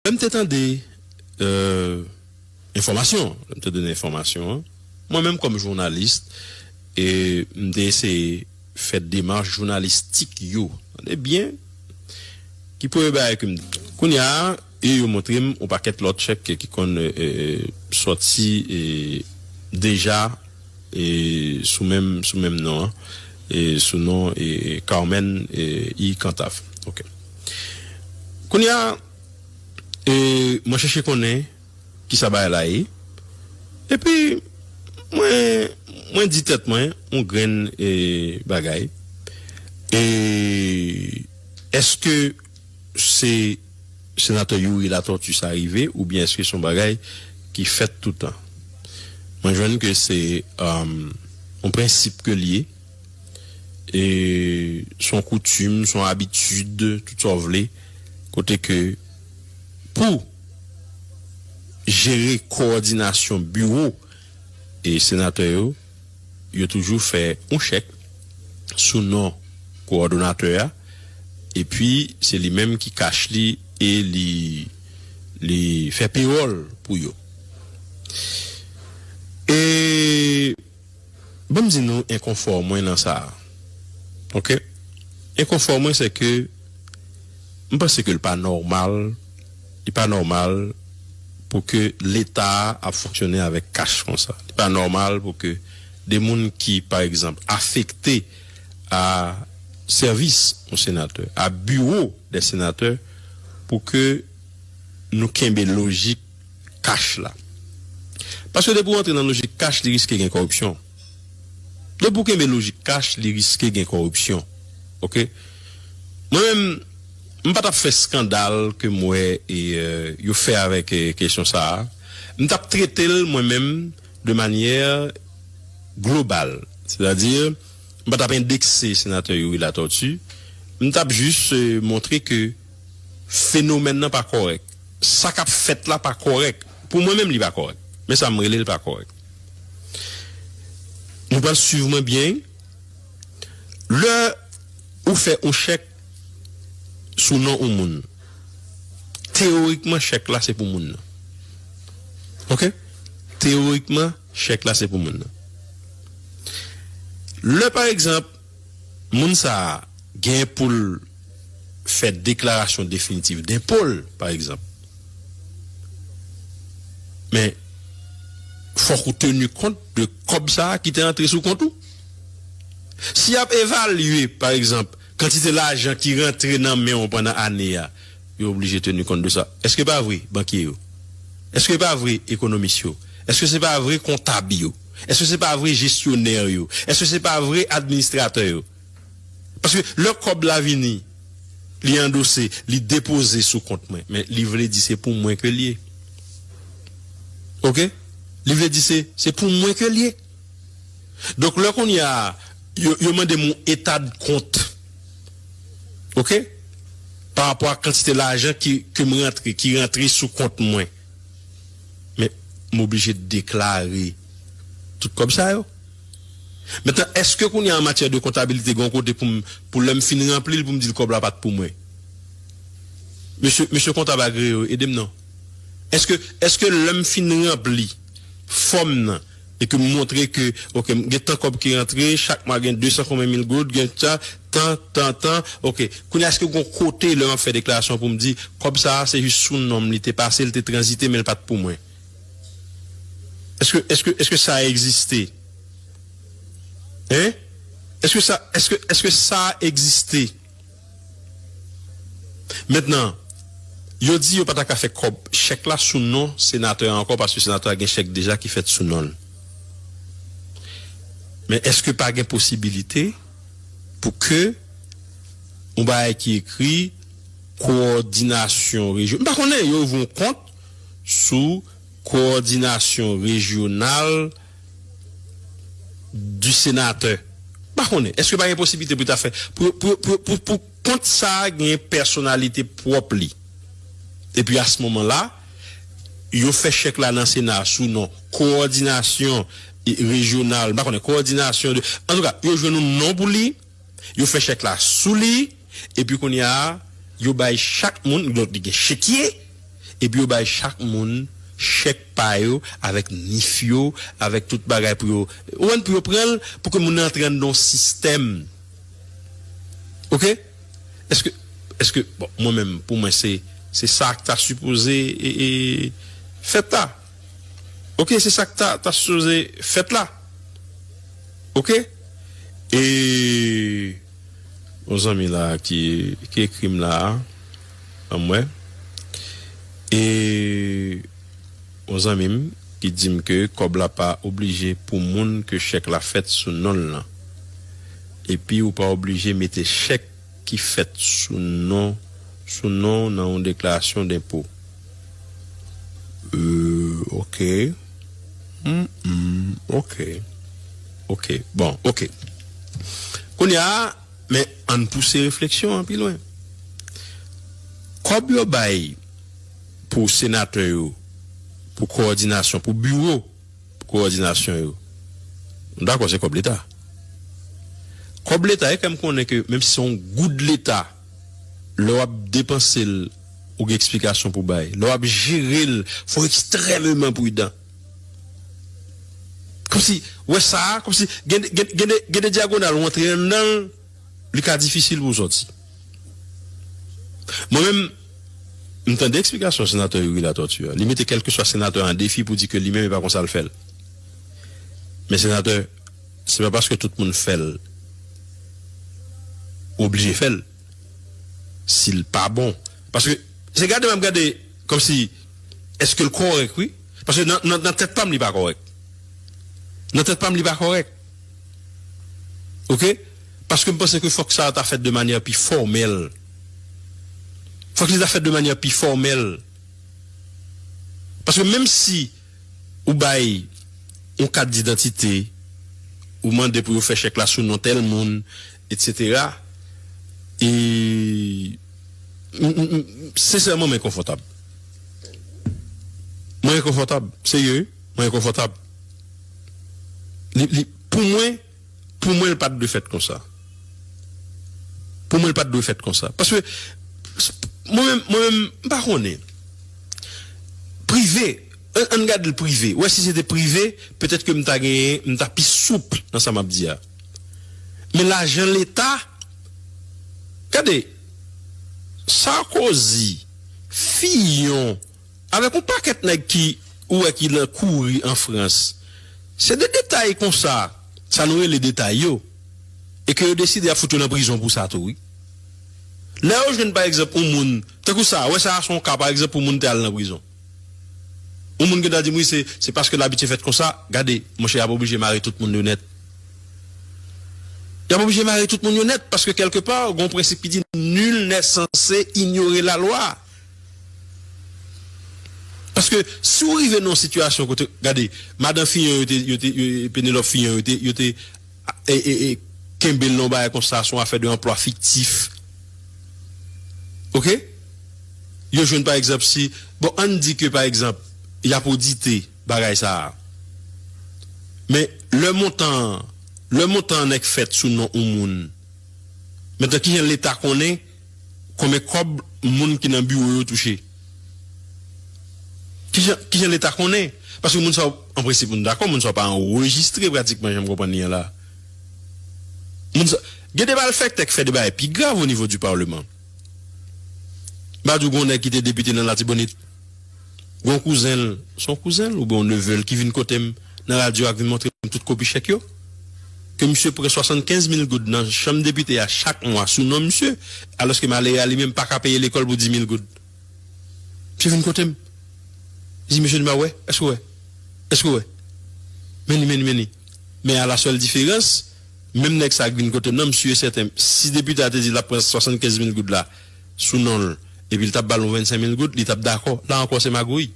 Lè m te tande enfòmasyon an, lè m te tande enfòmasyon an, mwen menm kòm jounalis, m te eseye fè demach jounalistik yo, tande byen, ki premye bagay ke m te. Kounye a, e yo montre m yon pakèt lòt chèk ki konn sòti deja sou menm non an, sou non Carmen I. Cantave. Kounye a, mwen chèche konnen ki sa bagay la ye, epi mwen di tèt mwen yon grenn bagay, E, èske se Senatè Youri Latortue sa rive oubyen èske se yon bagay ki fèt toutan? Mwen jwenn ke se yon prensip ke li ye. E s on koutim, s on abitid, tout sa w vle, kote ke pou jere kowòdinasyon biwo e senatè yo, yo toujou fè yon chèk sou non kowòdonatè a, epi se li menm ki kach li e li fè pewòl pou yo. E. Ban m di nou enkonfò mwen nan sa a, ok. Enkonfò mwen sè ke m panse ke l pa nòmal, li pa nòmal pou ke Leta a ap fonksyone avèk kach kon sa. Li pa nòmal pou ke de moun ki, pa egzanp, afekte a sèvis yon senatè, a biwo dè senatè, pou ke nou kenbe lojik. cash la. Paske depi w antre nan lojik cash li riske gen kòripsyon. Depi w kenbe lojik cash li riske gen kòripsyon. Ok. Mwen menm m pa tap fè skandal ke m wè yo fè avèk kesyon sa a. M tap trete l mwen menm de manyè global. Sètadi m pa tap endekse senatè Youri Latortue. M tap jis montre ke. Fenomèn nan pa kòrèk. Sa k ap fèt la pa kòrèk. Pou mwen menm li pa kòrèk. Men sa m rele l pa kòrèk. Nou pral suiv mwen byen wi. Lè ou fè yon chèk sou non yon moun, teyorikman chèk la se pou moun nan. Ok? Teyorikman chèk la se pou moun nan. Lè pa egzanp. moun sa a gen pou l fè deklarasyon definitif denpo l, pa egzanp, men fòk ou teni kont de kòb sa a ki te antre sou kont ou. Si y ap evalye, pa egzanp, kantite lajan ki rantre nan men w pandan ane a, yo oblije teni kont de sa. Èske pa vre, bankye yo? Èske pa vre, ekonomis yo? Èske se pa vre, kontab yo? Eske se pa vre jesyonè yo? Eske se pa vre administratè yo? Paske lè kòb la vini, li andose, li depoze sou kont mwen, men li vle di se pou mwen ke l ye. Ok? Li vle di se, se pou mwen ke l ye. Donk lè kounye a, yo, yo mande m yon etadkont, ok, pa rapò ak kantite lajan ki, ke m rantre, ki rantre sou kont mwen. Men, m oblije deklare tout kòb sa yo. Mentnan, èske kounye a an matyè de kontabilite gen yon kote pou m, pou lè m fin ranpli l pou m di l kòb la pa t pou mwen? Mesye, mesye kontab agreye yo, ede m non. Èske, èske lè m fin ranpli fòm nan, E ke m montre ke ok m gen tan kòb ki rantre, chak mwa gen 200 konbyen mil goud, gen ta, tan, tan, tan, ok. Kounye a eske gon kote lè map fè deklarasyon pou m di kòb sa a se jis sou non m li te pase, li te tranzite men li pat pou mwen? Eske, eske, eske sa egziste? Hein? Eske sa, eske, eske sa egziste? Mentnan, yo di yo pa ta ka fè kòb chèk la sou non senatè a ankò paske senatè a gen chèk deja ki fèt sou non l. Men èske pa gen posibilite pou ke yon bagay ki ekri kowòdinasyon rejyo, m pa konnen, yo ouvri yon kont sou kowòdinasyon rejyonal? du sénateur m pa konnen eske pa gen posiblite pou yo ta fè pou kont sa gen pèsonalite pwòp li epi a se moman la yo fè chèk la nan sena sou non kowòdinasyon rejyonal m pa konnen kowòdinasyon de antouka yo jwenn yon non pou li. Yo fè chèk la sou li, epi kounye a, yo bay chak moun, donk li gen chekye, epi yo bay chak moun chèk pa yo avèk NIF yo, avèk tout bagay pou yo, ou konprann, pou yo pran l, pou ke moun nan antre anndan yon sistèm. Oke? Èske, èske, bon, mwen menm, pou mwen se, se sa k ta sipoze e, e, fèt la. Ok se sak ta ta sipoze fèt la ok e yon zanmi la ki ki ekrim la banm wè e yon zanmim ki dim ke kòb la pa oblije pou moun ke chèk la fèt sou nonl lan epi ou pa oblije mete chèk ki fèt sou non sou non w nan yon deklarasyon denpo euh ok humm ok ok bon ok kounye a men ann pouse refleksyon an pi lwen kòb yo bay pou senatè yo pou kowòdinasyon pou biwo. kowòdinasyon yo. M dakò se kòb leta. Kòb leta e fè m konnen ke menm si se yon goud leta lè w ap depanse l ou gen eksplikasyon pou bay. Lè w ap jere l fò w ekstrèmeman pridan. Kòmsi wè sa a kòmsi gen gen gen de dyagonal ou antre anndan l. li ka difisil pou w sòti. Mwen menm, m tande eksplikasyon Senatè Youri Latortue an. Li mete kèlkeswa Senatè an an defi pou di ke li menm e pa konsa l fè l. Men Senatè, se pa paske tout moun fè l, ou oblije fè l, si l pa bon. Paske, se gade m ap gade kòmsi èske l kòrèk wi. Paske nan tèt pa m li pa kòrèk. Nan tèt pa m li pa kòrèk. Ok paske m panse ke fòk sa ta fèt de manyè pi fòmèl fòk li ta fèt de manyè pi fòmèl paske menm si ou bay yon kat didantite ou mande pou yo fè chèk la sou non tèl moun etsetera e m sensèman m enkonfòtab mwen enkonfòtab serye wi mwen enkonfòtab. Pou mwen, pou mwen l pa t dwe fèt konsa. Pou mwen l pa t dwe fèt konsa. Paske, mwen menm, mwen menm, m pa konnen. Prive, an n gad l prive. Wè si se te prive, petèt ke m ta genyen, m ta pi souple nan sa m ap di a. Men lajan leta, gade, Sarkozy, Fillon, Avèk yon pakèt nèg ki ou wè ki nan kouri an Frans. Se de detay konsa, sa nou rele detay yo, e ke yo deside y ap fout yo nan prizon pou sa tou wi. Lè yo jwenn pa egzanp yon moun, tankou sa a, wè sa a se yon ka pa egzanp pou moun te al nan prizon. Yon moun gen tan di m wi se, se paske l abitye fèt konsa, gade, monchè y ap oblije mare tout moun yo nèt. Y ap oblije mare tout moun yo nèt, paske kèlke pa gen yon prensip ki di nul n'est censé ignorer la loi. Paske si w rive nan yon sitiyasyon kote, gade, madan Fillon yo te, yo te, Pénélope Fillon yo te, yo te kenbe l nan yon bagay konsa, son afè de anplwa fiktif. Oke? Yo jwenn pa egzanp si, bon ann di ke pa egzanp y ap odite bagay sa a. Men lè montan an, lè montan an nèk fèt sou non yon moun, men tan ki jan leta konnen? Konbyen kòb moun ki nan biwo yo touche? Kijan kijan leta konnen? Paske moun sa yo, an prensip nou dakò moun sa yo pa anrejistre pratikman jan m konprann li an la. Moun sa Gen de malfèktè k fè de bagay pi grav onivo di parleman. M pa di w gen yon nèg ki te depite nan Latibonit. Gon kouzen l, se yon kouzen l oubyen yon neve l ki vin kote m nan radyo a k vin montre m tout kopi chèk yo. Ke misye pran 75 mil goud nan chanm depite a chak mwa sou non misye, alòske malere a li menm pa ka peye lekòl pou 10 mil goud. Misye vin kote m. Li di mesye li ma wè, èske w wè? Èske w wè? Men li, men li, men li. Men a la sèl diferans, menm nèg sa a k vin kote m nan, misye sèten si depite a te di l ap pran 75 mil goud la, sou non l epi l t ap ba l yon vennsenk mil goud, li t ap dakò. La ankò se magouy.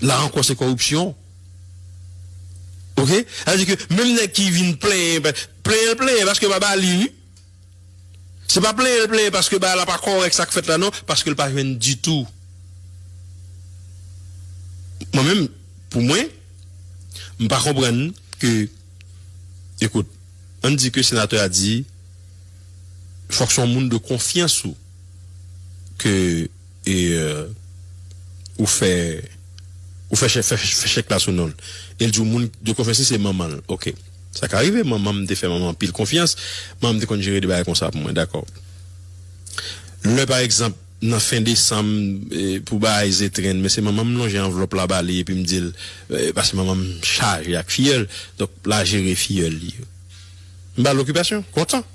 La ankò se kòripsyon. Oke? Sa vle di ke menm nèg ki vin plenyen, plenyen l plenyen paske yo pa ba li wi. Se pa plenyen l plenyen paske bagay la pa kòrèk sa k fèt la non, paske l pa jwenn ditou. Mwen menm, pou mwen, m pa konprann ke, ekout, Ann di ke senatè a di fòk se yon moun de konfyans ou ke ou fè ou fè chèk fè chèk la sou non l. E l di w moun de konfyans li se manman l. Ok. Sa ka rive. Manman m te fè manman m anpil konfyans. Manman m te konn jere de bagay konsa pou mwen. Dakò. Lè pa egzanp. Nan fen desanm, pou bagay zetrenn, men se manman m lonje anvlòp la ba li epi m di l, paske manman m chaje ak fiyèl, donk la jere fiyèl li yo. M ba l okipasyon, kontan.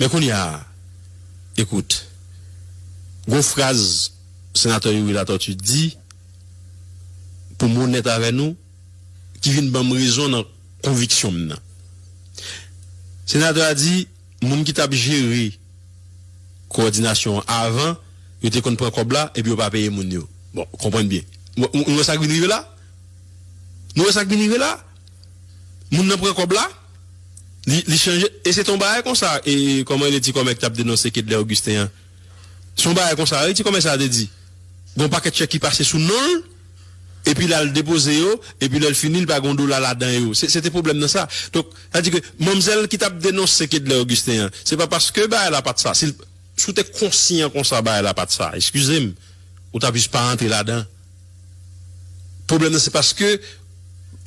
Men kounye a, ekout, gen yon fraz Senatè Youri Latortue di, pou m onèt avè nou, ki vin ban m rezon nan konviksyon m nan. Senatè a di. Moun ki t ap jere kowòdinasyon an avan, yo te konn pran kòb la epi yo pa peye moun yo. Bon, konprann byen. Nou wè sa k vin rive la? Nou wè sa k vin rive la? Moun nan pran kòb la, li, li chanje, e se te yon bagay konsa, e, kòman rele ti kòmè ki t ap denonse Kedlè Ogisten an? Se yon bagay konsa wi ti kòmè sa a te di. Gen yon pakèt chèk ki pase sou non l. epi l al depoze yo, epi lè l fini li pa gen yon dola ladan yo. Se te pwoblèm nan sa. Donk, sa di ke manmzèl ki t ap denonse Kedlè Ogisten an, se pa paske bagay la pa t sa. Si l si w te konsyan konsa bagay la pa t sa, eskize m, ou ta plis pa antre ladan. Pwoblèm nan se paske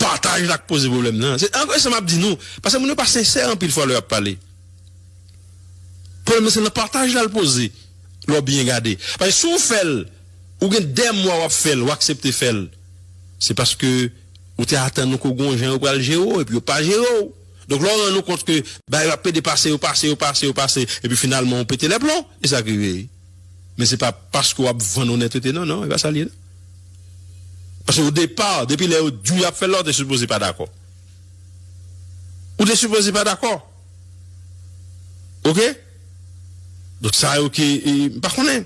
pataj la k poze pwoblèm nan. Se ankò e sa m ap di nou, paske moun yo pa sensè anpil fwa lè y ap pale. Pwoblèm nan se nan pataj la l poze, lè w byen gade. Paske si w fè l. Ou gen 2 mwa wap fèl ou aksepte fèl se paske ou te atann ou ko gon jan yo pral jere w epi yo pa jere w donk lè w rann ou kont ke bagay yo ap pede pase yo pase yo pase yo pase epi finalman ou pete lè plon e sak rive men se pa paske wap vann onètete non non e pa sa l ye non paske o depa depi lè yo diw yap fèl la ou te sipoze pa dakò ou te sipoze pa dakò. Ok Donk sa yo ki m pa konnen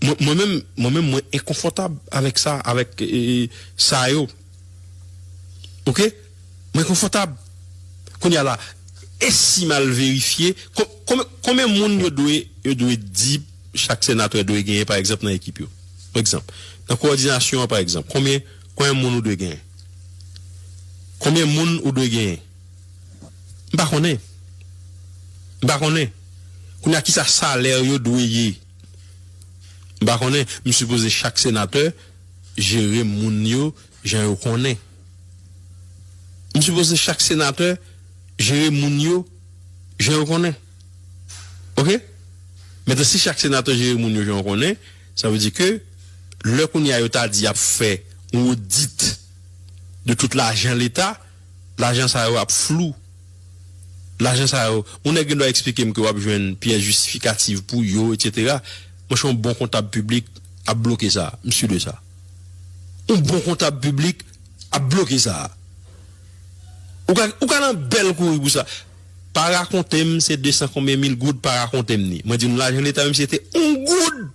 Mwen menm mwen menm mwen enkonfòtab avèk sa avèk sa yo Ok Mwen konfòtab Kounye a la e si m al verifye konbyen moun yo dwe yo dwe di chak senatè dwe genyen pa egzanp nan ekip yo pa egzanp nan kowòdinasyon an pa egzanp konbyen konbyen moun ou dwe genyen konbyen moun ou dwe genyen. M pa konnen. M pa konnen. Kounye a kisa salè yo dwe ye? M pa konnen. M sipoze chak senatè jere moun yo jan yo konnen. M sipoze chak senatè jere moun yo jan yo konnen. Ok? Metan si chak senatè jere moun yo jan yo konnen, sa vle di ke lè kounye a yo ta di y ap fè yon odit de tout lajan leta, Lajan sa yo ap flou. Lajan sa yo, yon nèg gen dwa eksplike m ke w ap jwenn pyès jistifikativ pou yo, etsetera. Mwen chè yon bon kontab piblik ap bloke sa. M si de sa. Yon bon kontab piblik ap bloke sa. Ou ka, ou ka nan bèl kouri pou sa. Pa rakonte m se 200 konbyen mil goud, pa rakonte m ni. Mwen di nou lajan leta menm si se te yon goud,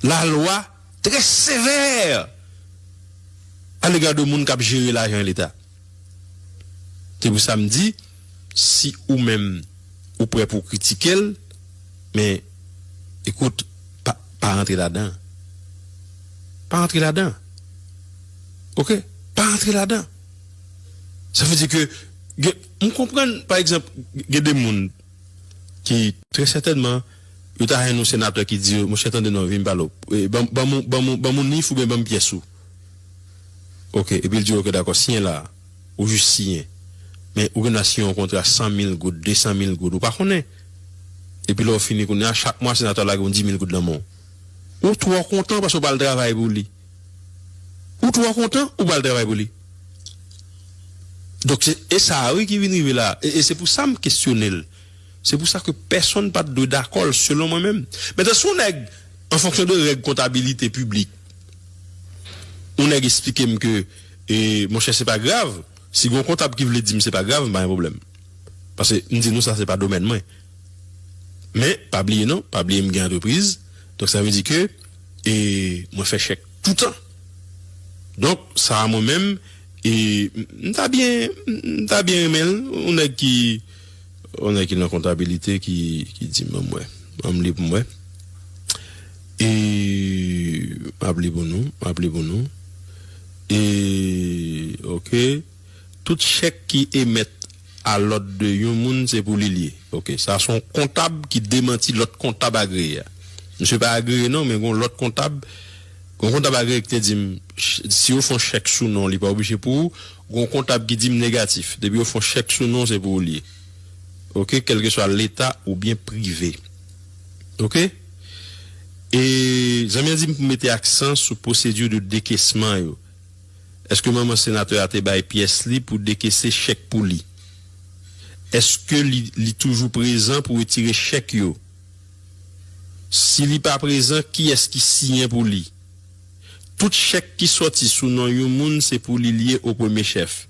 lalwa. trè sevè a lega de moun k ap jere lajan leta. Se pou sa m di, si ou menm ou prè pou w kritike l, men, ekout, pa, pa rantre ladan. Pa rantre ladan. Ok? Pa rantre ladan. Sa vle di ke gen, m konprann, pa egzanp, gen de moun. ki trè sètènman yo ta renmn yon senatè ki di yo monchè tande non vin pale ou banm ou banm ou banm ou nif oubyen banm pyès ou ok epil di yo ok dakò siyen la ou jis siyen men ou gen dwa siyen yon kontra 100 mil goud 200 mil goud ou pa konnen epi lè ou fini kounya chak mwa senatè a lage yon 10 mil goud nan men w ou twò kontan paske ou pral travay pou li. Ou twò kontan ou pral travay pou li. Donk se e sa a wi ki vin rive la a. E se pou sa m kesyone l. Se pou sa ke pèsonn pa t dwe dakò l selon mwen menm. Mentan si yon nèg an fonksyon de règ kontabilite piblik, yon nèg esplike m ke e monchè se pa grav, si gen yon kontab ki vle di m se pa grav m pa gen pwoblèm. Pase m di nou sa se pa domèn mwen. Men, pa bliye non, pa bliye m gen antrepriz, donk sa vle di ke e mwen fè chèk toutan. Donk sa a mwen menm e m ta byen, m ta byen renmen l, yon nèg ki, yon nèg ki nan kontabilite ki di m, ban m wè, ban m li pou m wè. E m ap li pou nou, m ap li pou nou. E, ok. Tout chèk ki emèt a lòd de yon moun se pou li l ye. Ok. Sa son kontab ki demanti lòt kontab agreye a. Misye pa agreye non men gon lòt kontab, gon kontab agreye ki te di m si yo fon chèk sou non li pa oblije pou ou, gon kontab ki di m negatif. Depi yo fon chèk sou non se pou ou l ye. Ok. Kèlkeswa leta oubyen prive. Ok. E zanmi an di m pou mete aksan sou pwosedi de dekesman yo. Eske manman senatè a te bay pyès li pou dekese chèk pou li? Eske li li toujou prezan pou retire chèk yo? Si li pa prezan kiyès ki siyen pou li? Tout chèk ki sòti sou non yon moun se pou li l ye o premye chèf.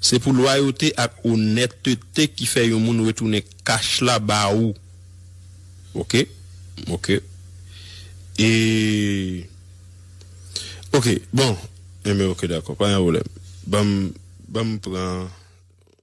Se pou lwayote ak onètete ki fè yon moun retounen kach la ba ou. Ok. Ok. E. Ok bon enben ok dakò pa gen pwoblèm banm banm pran.